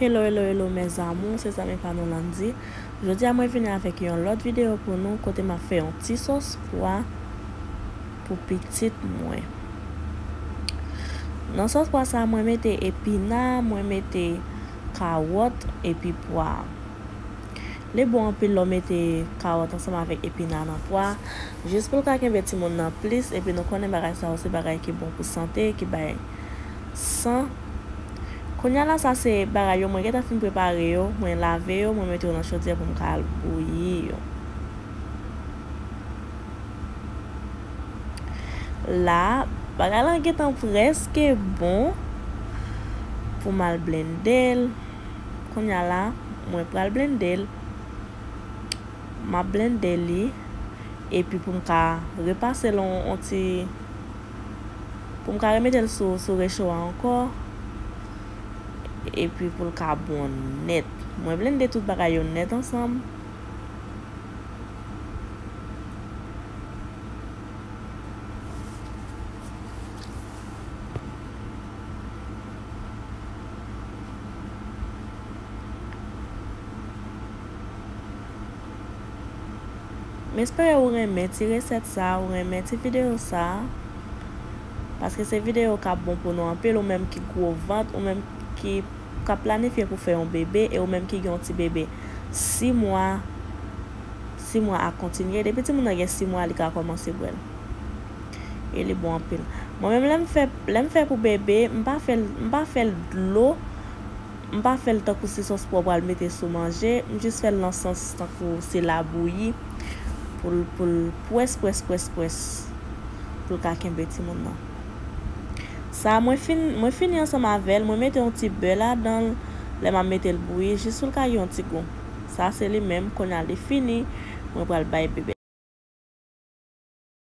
Hello hello hello mes amours se zanmi pa nou Landy jodi a mwen vini avèk yon lòt video pou nou kote map fè yon ti sòs pwa pou pitit mwen nan sòs pwa sa mwen mete epina mwen mete kawòt epi pwa. Li bon anpil lè w mete kawòt ansanm avèk epina nan pwa, jis pou l ka kenbe timoun nan plis epi nou konnen bagay sa yo se bagay ki bon pou sante, ki bay san. Kounya la sa se bagay yo mwen gen tan fin prepare yo, mwen lave yo, mwen mete yo nan chodyè pou m ka al bouyi yo. La, bagay lan gen tan prèske bon pou m al blende l. Kounya la mwen pral blende l. Map blende li. Epi pou m ka repase l on ti. Pou m ka remete l sou recho a ankò. Epi pou l ka bon nèt. Mwen blende tout bagay yo nèt ansanm. M espere ou renmen ti resèt sa, ou renmen ti videyo sa. Paske se videyo k ap bon pou nou anpil, ou menm ki gwo vant, ou menm ki k ap planifye pou fè yon bebe, e ou menm ki gen yon ti bebe 6 mwa, 6 mwa ak kontinye. Depi timoun nan gen 6 mwa li ka kòmanse bwè l. e li bon anpil mwen menm lèm fè lèm fè pou bébé m pa fèl m pa fèl dlo m pa fèl tankou se sòs pouw pral mete sou manje m jis fèl nan sans tankou se labouyi poul poul pwès pwès pwès pwès poul ka kenbe timoun nan sa mwen fin mwen fini ansanm avèl mwen mete yon ti bè ladanl lèm ap metel bouyi jis poul ka gen yon ti gou sa se li menm kounya li fini mwen pral bay bébé.